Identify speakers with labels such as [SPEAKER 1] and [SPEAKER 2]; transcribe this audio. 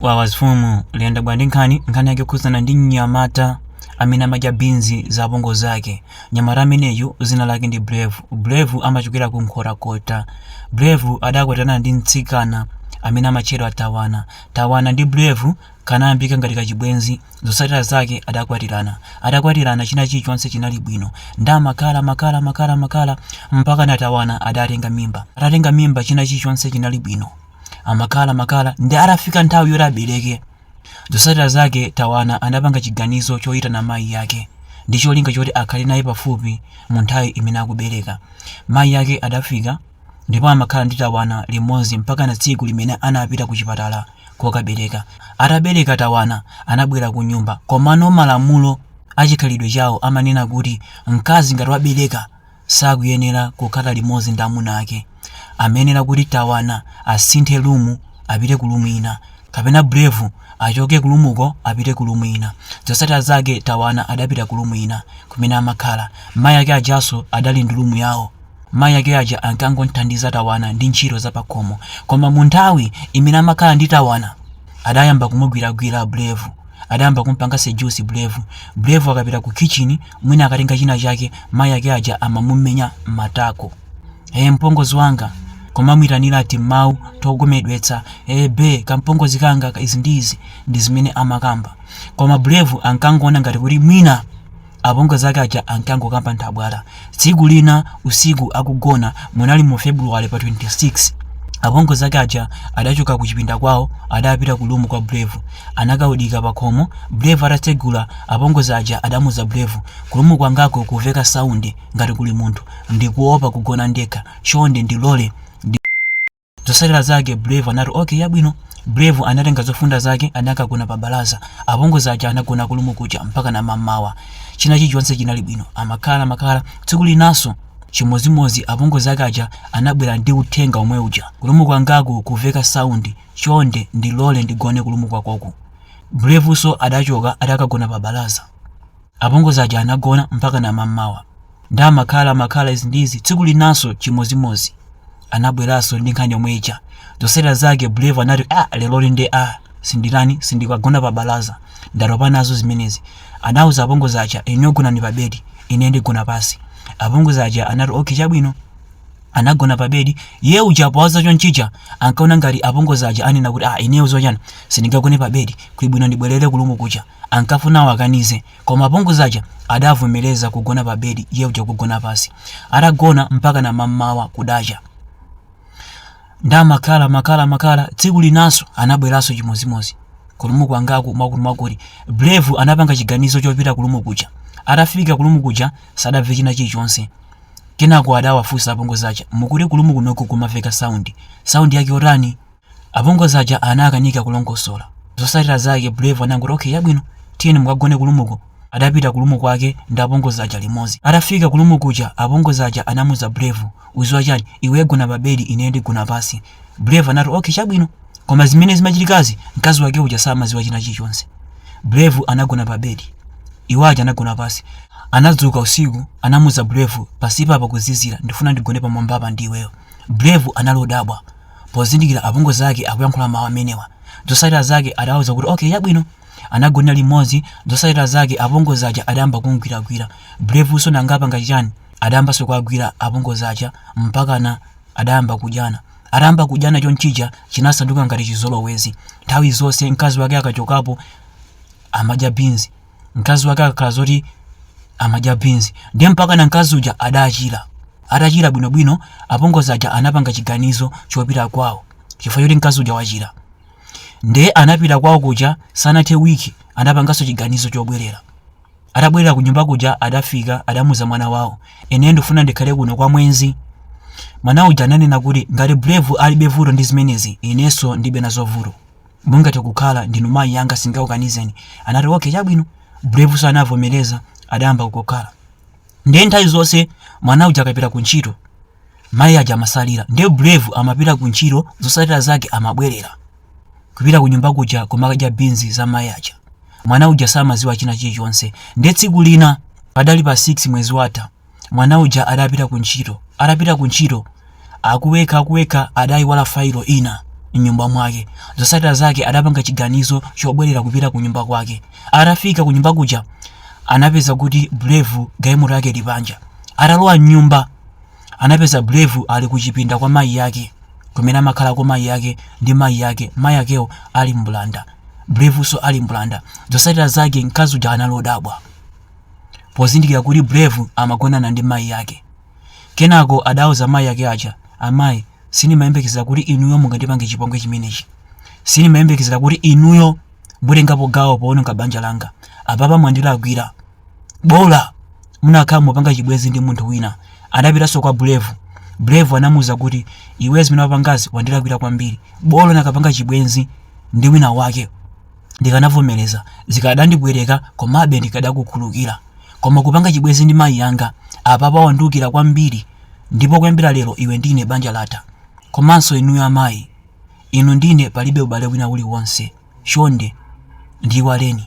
[SPEAKER 1] Wawas Fumu liyenda bwa ndi nkhani? Nkhani yake yokhudzana ndi mnyamata amene amadya beans za apongozi zake. Mnyamata ameneyu zina lake ndi Brave. Brave amachokera ku Nkhotakota. Brave adakwatirana ndi mtsikana amene amatchedwa Tawana. Tawana ndi Brave kanayambika ngati kachibwenzi. Zotsatira zake adakwatirana. Atakwatirana china chilichonse chinali bwino. Nde amakhala makhala makhala makhala mpakana Tawana adatenga mimba. Atatenga mimba china chilichonse chinali bwino. Amakhala makhala nde atafika nthawi yoti abereke, zotsatira zake Tawana anapanga chiganizo choitana mayi ake ndi cholinga choti akhale naye pafupi mu nthawi imene akubereka. Mayi ake adafika ndipo amakhala ndi Tawana limodzi mpakana tsiku limene anapita ku chipatala kokabereka. Atabereka Tawana anabwera kunyumba komano malamulo a chikhalidwe chawo amanena kuti mkazi ngati wabereka, sakuyenera kukhala limodzi ndi amuna ake, amayenera kuti Tawana asinthe room apite ku room ina kapena Brave achoke ku room uko apite ku room ina. Zotsatira zake Tawana adapita ku room ina kumene amakhala. Mayi ake ajanso adali ndi room yawo. Mayi ake aja ankangomthandiza Tawana ndi ntchito za pakhomo. Koma munthawi imene amakhala ndi Tawana adayamba kumugwiragwira Brave. Adayamba kumpanga seduce Brave. Brave akapita ku kitchen mwina akatenga china chake mayi ake aja amamumenya matako ee mpongozi wanga kumamuitanira timawu togomedwetsa ee be kampongozi kanga ka izi ndi izi ndi zimene amakamba koma brave ankangoona ngati kuti mwina apongozi ake aja ankangokamba nthabwala tsiku lina usiku akugona munali mu february pa 26 apongozi ake aja adachoka ku chipinda kwawo adapita ku lumu kwa brave Anakaodika pakhomo Brave atatsegula apongozi aja adamuuza Brave kulumu kwangaku kuveka sound ngati kuli munthu ndikuopa kugona ndekha chonde ndilole ndipange zotsatira zake Brave anati ok yabwino Brave anatenga zofunda zake anakagona pa balaza apongozi aja anagona kulumu kuja mpakana mammawa china chilichonse chinali bwino amakhala makhala tsiku linanso chimodzimodzi apongozi ake aja anabwera ndi uthenga omwe uja kulumu kwangaku kuveka sound Chonde ndilole ndigone kulumu kwakoku. Bravenso adachoka adakagona pabalaza. Apongozi aja anagona mpakana mammawa. Nde amakhala amakhala izi ndi izi tsiku linanso chimodzimodzi. Anabweranso ndi nkhani yomwe ija. Zotsatira zake Brave anati aah lerolo nde aah sinditani sindikagona pabalaza ndatopa nazo zimenezi. Anauza apongozi aja inuyo gonani pabedi ineyo ndigona pansi. Apongozi aja anati okay chabwino. anagona pa bedi ye uja poganiza chonchija ankaona ngati apongozi aja anena kuti ah ineyo zocheza sindingagone pa bedi kulibwino ndibwerere kulumu kuja ankafuna awakanize koma apongozi aja adavomereza kugona pa bedi ye uja kugona pansi atagona mpaka na mammawa kudacha ndekumakhala makhala makhala tsiku linanso anabweranso chimozimozi kulumu kwangaku mwakuti mwakuti brave anapanga chiganizo chopita kulumu kuja atafika kulumu kuja sadamve china chilichonse Kenako adawafunsa apongozi aja, Mukuti ku lumu kunoku kumaveka sound. Sound yake yotani? Apongozi aja anakanika kulongosola. Zotsatira zake Brave anangoti okay chabwino tiyeni mukagone ku lumuko. Adapita ku lumu kwake ndi apongozi aja limodzi. Atafika ku lumu kuja apongozi aja anamuuza Brave, udziwa chani? Iwe gona pa bedi ine ndigona pansi. Brave anati okay chabwino. Koma zimene zimachitikazi mkazi wake uja samadziwa china chilichonse. Brave anagona pa bed. Iwo aja anagona pansi. Anadzuka usiku anamuuza Brave pansipa pakuzizira ndifuna ndigone pamwambapa ndi iweyo. Brave anali odabwa pozindikira apongozi ake akuyankhula mawu amenewa. Zotsatira zake adawauza kuti okay chabwino. Anagonera limodzi zotsatira zake apongozi aja adayamba kumgwiragwira. Brave-nso nanga apanga chichani? Adayambanso kuwagwira apongozi aja mpakana adayamba kudyana. Atayamba kudyana chonchija chinasanduka ngati chizolowezi. Nthawi zonse mkazi wake akachokapo amadya beans. Mkazi wake akakhala zoti amadya beans. Ndiye mpakana mkazi uja adachira. Atachira bwinobwino, apongozi aja anapanga chiganizo chopita kwawo chifukwa choti mkazi uja wachira. Ndiye anapita kwawo kuja sanathe week anapanganso chiganizo chobwerera. atabwerera kunyumba kuja adafika adamuuza mwana wawo ine ndifuna ndikhale kuno kwa mwezi mwana uja ananena kuti ngati brave alibe vuto ndi zimenezi inenso ndilibe nazo vuto mungathe kukhala ndinu mayi yanga sindingakukanizeni anati okay chabwino bravenso anavomereza adayamba kukhala ndiye nthawi zonse mwana uja akapita ku ntchito mayi aja amatsalira ndiye brave amapita ku ntchito zotsatira zake amabwerera kupita ku nyumba kuja kumakadya binzi za mayi aja mwana uja samadziwa china chilichonse nde tsiku lina padali pa 6 mwezi watha mwana uja adapita ku ntchito atapita ku ntchito akuwekha akuwekha adayiwala failo ina mnyumba mwake zotsatira zake adapanga chiganizo chobwerera kupita ku nyumba kwake atafika ku nyumba kuja anapeza kuti brave galimoto yake ili panja atalowa mnyumba anapeza brave ali kuchipinda kwa mayi yake kumene amakhalako mayi yake ndi mayi yake mayi akewo ali mbulanda Brave-nso ali mbulanda. Zotsatira zake mkazi uja anali odabwa pozindikira kuti Brave amagonana ndi mayi ake. Kenako adauza mayi ake aja, Amayi, sindimayembekezera kuti inuyo mungandipange chipongwe chimenechi. Sindimayembekezera kuti inuyo mutengapo gawo poononga banja langa. Apapa mwandilakwira. bola munakakhala mupanga chibwezi ndi munthu wina anapitanso kwa Brave Brave anamuuza kuti iwe zimene wapangazi wandilakwira kwambiri bola unakapanga chibwezi ndi wina wake ndikanavomereza zikadandipweteka komabe ndikadakukhululukira koma kupanga chibwezi ndi mayi yanga apapa wandiukira kwambiri ndipo kuyambira lero iwe ndine banja latha komanso inuyo amayi inu ndine palibe ubale wina uliwonse chonde ndiiwaleni